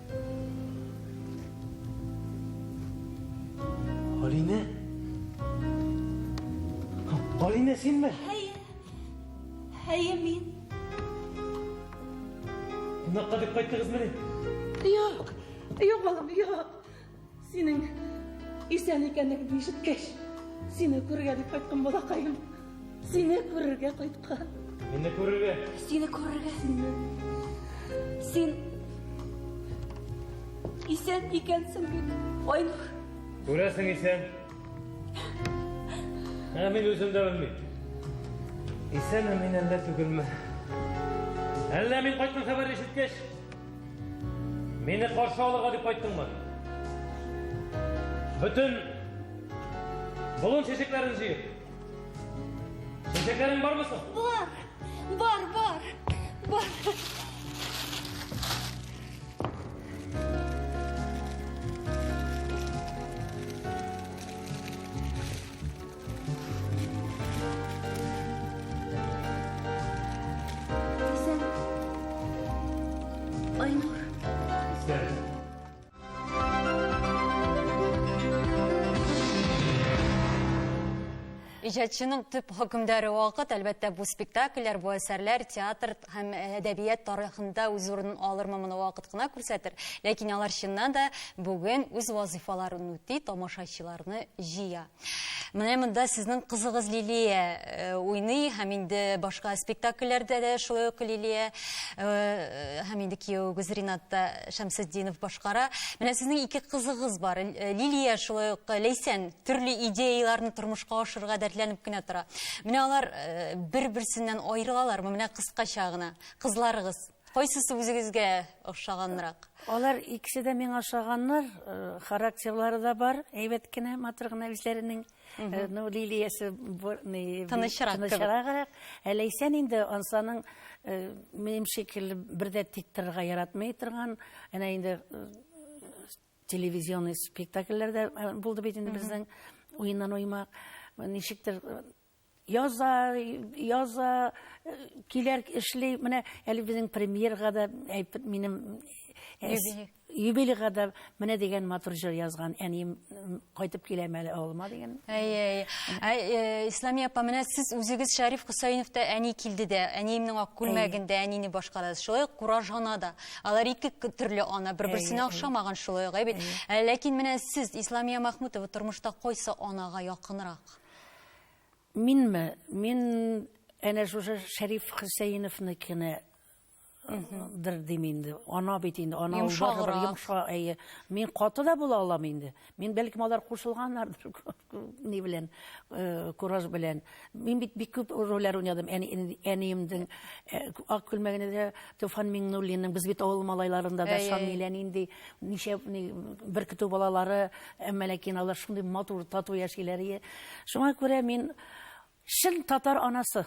Алинә? Алинә, синме? Әйе. Әйе, мин. Кунакка дип кайттыгызмыни? Юк. Юк, балам, юк. Синең исән икәнлегеңне ишеткәч, сине күрергә дип кайткан балакаем. Сине күрергә кайткан. Мине күрергә. Сине күрергә. Сине. Син исән икәнсең бит, Айнур. Күрәсең исән. Ә мин үзем дә белмим. Исәнме мин әллә түгелме? Әллә мин кайткан хәбәр ишеткәч, Мине каршы алырга дип кайттыңмы? Бөтен болын чәчәкләрен җыеп. Чәчәкләрең бармы соң? Бар. Бар, бар. Бар. Иҗатчының төп хөкемдәре вакыт, әлбәттә, бу спектакльләр, бу әсәрләр театр һәм әдәбият тарихында үз урынын алырмы моны вакыт кына күрсәтер. Ләкин алар чыннан да бүген үз вазифаларын үти, тамашачыларны җыя. Менә монда сезнең кызыгыз Лилия э, уйный һәм инде башка спектакльләрдә дә шулай ук Лилия э, һәм инде кияуегез Ринат та Шәмсетдинов башкара. Менә сезнең ике кызыгыз бар. Э, Лилия шулай ук Ләйсән төрле идеяләрне тормышка ашырырга дәртләнеп кенә тора. Менә алар бер-берсеннән аерылалармы? Менә кыскача гына кызларыгыз Кайсысы үзегезгә ошаганрак? Алар икесе дә миңа ошаганнар. Э, характерлары да бар, әйбәт кенә, матур гына үзләренең. Э, ну, Лилиясе тынычрак кебек. Ә Ләйсән инде ансаның э, минем шикелле бер дә тик торырга яратмый торган, әнә инде телевизионный спектакльләрдә булды бит инде безнең уеннан уймак. Ничектер яза, яза, килер, эшли. Менә әле безнең премьерга да әйтеп минем юбилейга да менә дигән матур җыр язган әнием кайтып киләм әле авылыма дигән әй әй исламия апа менә сез үзегез шәриф хөсәеновта әни килде дә әниемнең ак күлмәгендә әнине башкарадыз шулай ук куражана да алар ике төрле ана бер берсенә охшамаган шулай ук бит ләкин менә сез исламия махмутова тормышта кайсы анага якынрак Минме? Мин әнә шушы Шәриф Хөсәеновныкына дыр дим инде. Ана бит инде, ана Йомшаграк. йомшак, әйе. Мин каты да була алам инде. Мин бәлкем алар кушылганнардыр ни белән, э, кураж белән. Мин бит бик күп рольләр уйнадым. Әни, әниемдин э, ак күлмәгендә дә Туфан Миңнуллинның, без бит авыл малайларында да Әйе. Шамилә нинди, ничә ни, бер көтү балалары, Әмма ләкин алар шундый матур, тату яшиләр. Шуңа күрә мин чын татар анасы,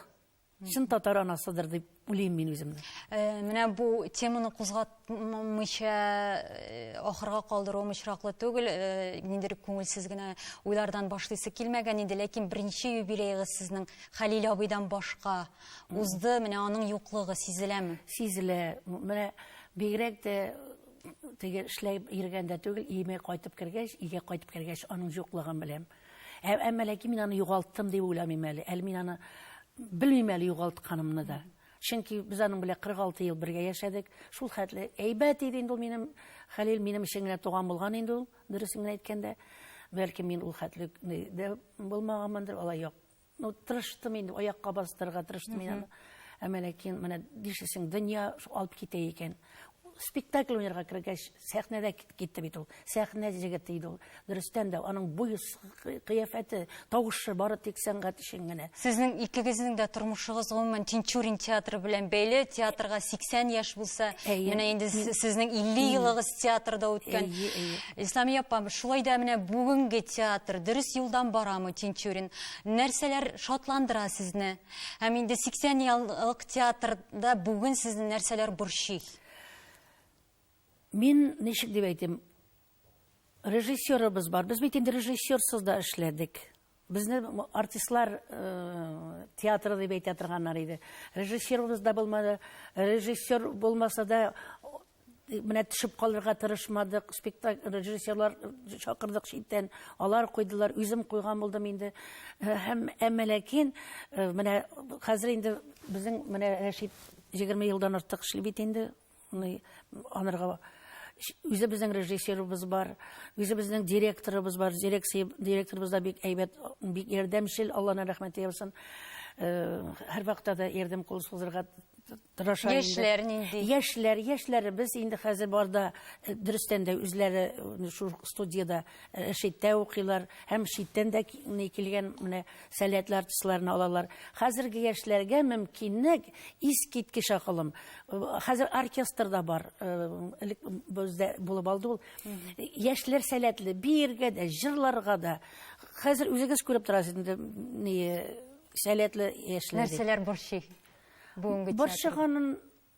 чын татар анасыдыр дип уйлыйм мин үземне. Э, менә бу теманы кузгатмыйча э, ахырга калдыруым очраклы түгел, э, ниндидер күңелсез генә уйлардан башлыйсы килмәгән иде, ләкин беренче юбилеегыз сезнең Хәлил абыйдан башка узды, менә аның юклыгы сизеләме? Сизелә. Менә бигрәк тә теге эшләй йөргән дә түгел, иеме кайтып кергәч, өйгә кайтып кергәч, аның юклыгын беләм. Ә, әмма ләкин мин аны югалттым дип уйламыйм әле. Әле мин аны белмим әле югалтканымны да. Чөнки без аның белән 46 ел бергә яшәдек. Шул хәтле әйбәт иде инде ул минем Хәлил минем өчен генә туган булган инде ул, дөресен генә әйткәндә. Бәлки мин ул хәтле дә булмаганмындыр, алай як Ну, тырыштым инде, аякка бастырырга тырыштым мин аны. Әмма ләкин менә нишлисең, дөнья алып китә икән. Спектакль уйнарга кергәч, сәхнәдә китте бит ул. Сәхнә җегете иде ул. Дөрестән дә аның буе, кыяфәте, тавышы бары тик сәнгать өчен генә. Сезнең икегезнең дә тормышыгыз гомумән Тинчурин театры белән бәйле. Театрга 80 яшь булса, менә инде сезнең 50 елыгыз театрда үткән. Исламия апа, шулай да менә бүгенге театр дөрес юлдан барамы Тинчурин? Нәрсәләр шатландыра сезне? Һәм инде 80 еллык театрда бүген сезне нәрсәләр борчый? Мин ничек дип әйтим? Режиссерыбыз бар. Без бит инде режиссерсыз да эшләдек. Безне артистлар э, театры дип әйтә торганнар иде. Режиссерыбыз да булмады. Режиссер булмаса да менә төшеп калырга тырышмадык, спектакль режиссерлар чакырдык читтән, алар куйдылар, үзем куйган булдым инде. Э, һәм әмма ләкин э, менә хәзер инде безнең менә Рәшит 20 елдан артык эшли бит инде. Анырга үзе безнең режиссерыбыз бар, үзе безнең директорыбыз бар, дирекция директорыбыз да бик әйбәт, бик ярдәмчел, Аллаһның рәхмәте яусын. Э, һәрвакытта да ярдәм кулы сузырга тырыша инде. Яшьләр нинди? Яшьләр, яшьләребез инде хәзер бар да э, дөрестән дә үзләре э, шул студиядә э, читтә укыйлар һәм читтән дә ки- ни килгән менә сәләтле артистларны алалар. Хәзерге яшьләргә мөмкинлек искиткеч акылым. Э, Хәзер оркестр да бар. э, Элек бездә булып алды ул. Яшьләр сәләтле биергә дә, җырларга да. Хәзер үзегез күреп торасыз инде ни сәләтле яшьләр. дип. Нәрсәләр борчый? Бүгенге театр. Борчыганын,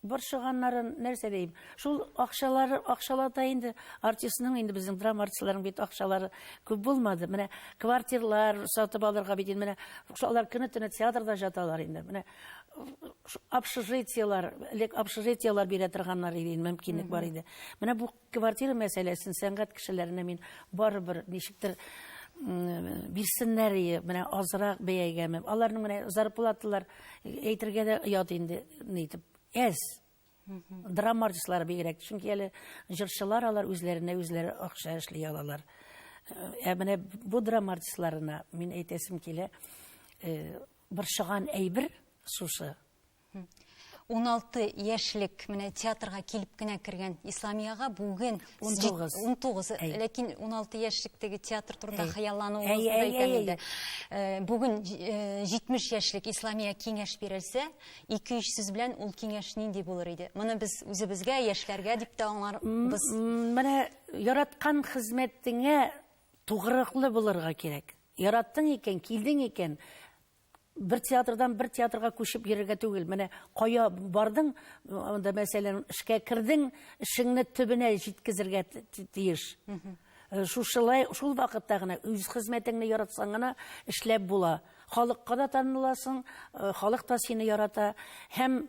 борчыганнарын нәрсә дим? Шул акчалары, акчалата инде артистның инде безнең драма артистларының бит акчалары күп булмады. Менә квартирлар сатып алырга бит инде менә шулар көне-төне театрда жаталар инде. Менә общежитиелар, элек общежитиелар бирә торганнар иде, мөмкинлек бар иде. Менә бу Квартира мәсьәләсен сәнгать кешеләренә мин барыбер ничектер бирсеннәр ие, менә азрак бәягә. Аларның менә зарплаталар әйтергә дә оят инде, ни итеп, әз. Драма артистлары бигрәк, чөнки әле җырчылар алар үзләренә үзләре акча эшли алалар. Ә менә бу драма артистларына мин әйтәсем килә, борчыган әйбер шушы. 16 яшьлек менә театрга килеп кенә кергән Исламиягә бүген 19. 19. Әй. Ләкин 16 яшьлектәге театр турында Әй. хыяллануыгызны Әй, да әй, әйтәм әй, инде. Э, Бүген э, 70 яшьлек Исламия киңәш бирелсә, 2-3 сүз белән ул киңәш нинди булыр иде? Моны без үзебезгә, яшьләргә дип тә аңларбыз. М, Менә яраткан хезмәтеңә тугрылыклы булырга кирәк. Яраттың икән, килдең икән, бер театрдан бер театрга күчеп йөрергә түгел. Менә кая бардың, анда мәсәлән, эшкә кердең, эшеңне төбенә җиткезергә тиеш. Э, шушылай, шул вакытта гына үз хезмәтеңне яратсаң гына эшләп була. Халыкка да таныласың, э, халык та сине ярата. Һәм